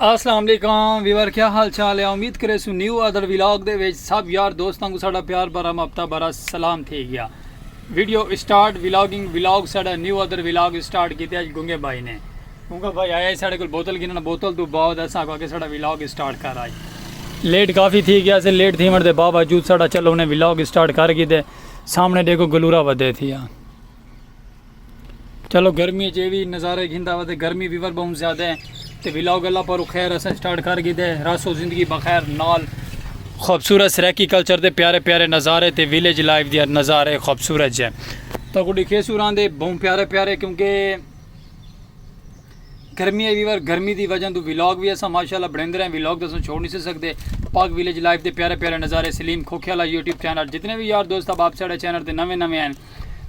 اسلام علیکم ویور کیا حال چال ہے امید کرے سو نیو ادر ویلاگ دے وچ سب یار دوستاں کو ساڈا پیار بھرا مپتا بھرا سلام تھی گیا ویڈیو اسٹارٹ ویلاگنگ ویلاگ ساڈا نیو ادر ویلاگ اسٹارٹ کیتے اج گنگے بھائی نے گنگا بھائی آیا ہے ساڈے کول بوتل گننا بوتل تو بعد اساں کو کہ ساڈا ویلاگ اسٹارٹ کر آئی لیٹ کافی تھی گیا سے لیٹ تھی من دے باوجود ساڈا چلو نے ویلاگ اسٹارٹ کر کیتے سامنے دیکھو گلورا ودے تھی ہاں چلو گرمی اچ اے وی نظارے گھندا وا تے گرمی وی ور بہوں زیادہ ہے تے ولاگ اللہ پارو خیر اساں سٹارٹ کر گھیدے راسو زندگی بخیر نال خوبصورت سریکی کلچر دے پیارے پیارے نظارے تے ویلیج لائف دے نظارے خوبصورت جے تو کو ڈکھے سوراں دے بہوں پیارے پیارے کیونکہ گرمی ہے ویور گرمی دی وجہ تو ویلاگ بھی اساں ماشاءاللہ بڑھیندے رہے ویلاگ تو اساں چھوڑ نہیں سے سکدے پاک ویلیج لائف دے پیارے پیارے نظارے سلیم کھوکھے والا یوٹیوب چینل جتنے بھی یار دوست اب آپ ساڑے چینل تے نویں نویں ہیں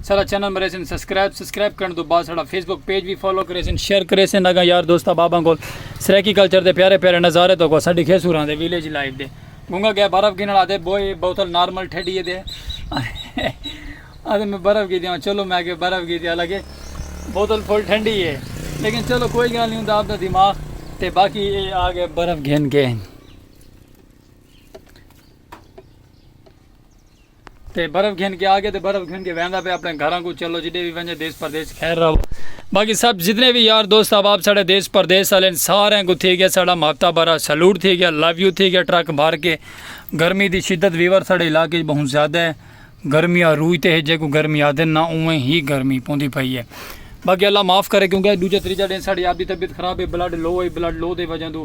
ساڈا چینل مریسن سبسکرائب سبسکرائب کرن تو بعد ساڈا فیس بک پیج بھی فالو کریسن شیئر کریسن اگا یار دوست احباباں کول سرائیکی کلچر دے پیارے پیارے نظارے تو کو ساڈی کھے سوراں دے ویلیج لائف دے گونگا گیا برف گن والا دے بوئے بوتل نارمل ٹھڈی دے اتے میں برف گی دیاں چلو میں اگے برف گی دیاں لگے بوتل فل ٹھنڈی ہے لیکن چلو کوئی گل نہیں ہوندا اپ دا دماغ تے باقی اے آ گئے برف گھن کے تے برف گھن کے آگے تے برف گھن کے ویندا پے اپنے گھراں کوں چلو جڈے وی ونجے دیس پردیس چ خیر رہو باقی سب جتنے وی یار دوست احباب ساڈے دیس پردیس آلین سارے کوں تھی گیا ساڈا محبتہ بھرا سلوٹ تھی گیا لو یو تھی گیا ٹرک بھر کے گرمی دی شدت ویور ساڈے علاقے چ بہت زیادہ ہے گرمی عروج تے ہے جے کو گرمی آدن نہ اوویں ہی گرمی پوندی پئی ہے باقی اللہ معاف کرے کیونکہ دوجا تریجا ڈے ساڈی آپ دی طبیعت خراب ہے بلڈ لو ہے بلڈ لو دے وجہ توں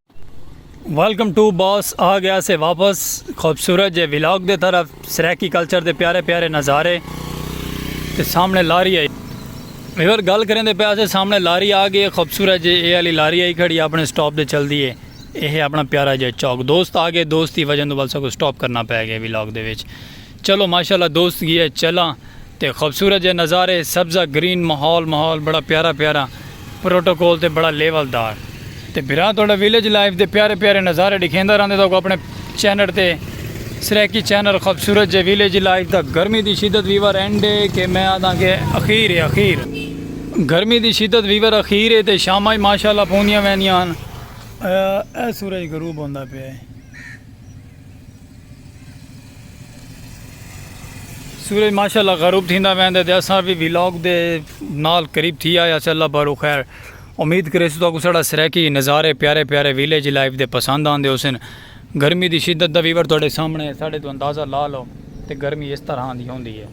ویلکم ٹو باس آ گیا سے واپس خوبصورت جے ولاگ دے طرف سریکی کلچر دے پیارے پیارے نظارے تے سامنے لاری آئی ویور گل کریں دے پیاسے سامنے لاری آ گئی خوبصورت جے اے علی لاری آئی کھڑی اپنے سٹاپ دے چل دیئے اے ہے اپنا پیارا جے چوک دوست آ گئے دوست ہی وجہ دو بلسا کو سٹاپ کرنا پہ گئے ولاگ دے ویچ چلو ماشاءاللہ دوست گی اے چلاں تے خوبصورت جے نظارے سبزہ گرین ماحول ماحول بڑا پیارا پیارا پروٹوکول تے بڑا لیول دار تے بھرا تہاڈا ویلیج لائف دے پیارے پیارے نظارے ڈکھیندا رہندے تہاکوں اپنے چینڑ تے سرائیکی چینل خوبصورت جے ویلیج لائف دا گرمی دی شدت ویور اینڈ اے کے میں آدھاں کے اخیر اے اخیر گرمی دی شدت ویور اخیر اے تے شاماں وی ماشاءاللہ پوندیاں ویندیاں ہن۔ اے سورج غروب ہوندا پیا اے۔ سورج ماشاءاللہ غروب تھیندا ویندا تے اساں بھی ویلاگ دے نال قریب تھی آیا اس اللہ بارو خیر امید کرے سو تو سڑا سریکی نظارے پیارے پیارے ویلیج لائف دے پسند آن دے حسن گرمی دی شدت دا ویور توڑے سامنے ساڑے تو اندازہ لا لو تے گرمی اس طرح آن دی ہون دی ہے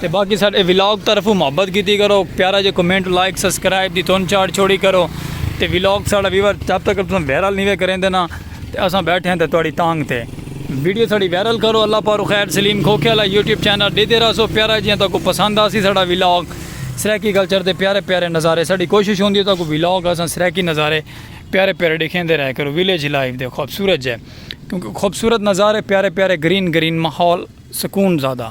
تے باقی ساڈے ولاگ طرفوں محبت کیتی کرو پیارا جے کمنٹ لائک سبسکرائب دی تون چاڑ چھوڑی کرو تے ولاگ ساڈا ویور جب تک تساں ویرل نہیں وے کریندے نا تے اساں بیٹھے ہیں تے تواڈی تانگ تے ویڈیو ساڈی ویرل کرو اللہ پارو خیر سلیم کھوکھے والا یوٹیوب چینل ڈیدے راسو پیارا جیاں تاکو پسند آسی ساڈا ولاگ سرائیکی کلچر دے پیارے پیارے نظارے ساڈی کوشش ہوندی ہے تاکو ولاگ اساں سرائیکی نظارے پیارے پیارے ڈکھیندے رہے کرو ویلیج لائف دے خوبصورت جے کیونکہ خوبصورت نظارے پیارے پیارے گرین گرین ماحول سکون زیادہ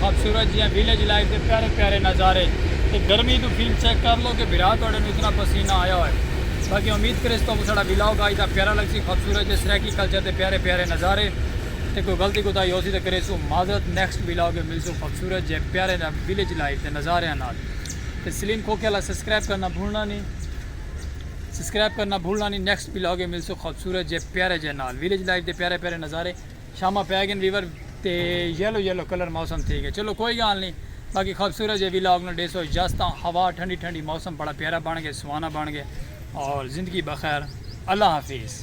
خوبصورت جیاں ویلیج لائف دے پیارے پیارے نظارے تے گرمی توں فلم چیک کر لو کہ بھرا تہاڈے نوں اتنا پسینہ آیا ہوئے باقی امید کریس تہاکوں ساڈا ولاگ آج دا پیارا لگسی خوبصورت جے سرائیکی کلچر دے پیارے پیارے نظارے تے کوئی غلطی کوتاہی ہوسی تے کریسوں معذرت نیکسٹ ولاگ اچ ملسوں خوبصورت جے پیارے ویلیج لائف دے نظاریاں نال تے سلیم کھوکھے آلا سبسکرائب کرنا بھولنا نی سبسکرائب کرنا بھولنا نی نیکسٹ ولاگ اچ ملسوں خوبصورت جے پیارے جے نال ویلیج لائف دے پیارے پیارے نظارے۔ شاماں پئے گئن ویور تے یلو یلو کلر موسم تھی گئے چلو کوئی گالھ نی باقی خوبصورت جے ویلاگ نال ڈیسو اجازت آں ہوا ٹھنڈی ٹھنڈی موسم بڑا پیارا بن گئے سہانا بن گئے اور زندگی بخیر اللہ حافظ۔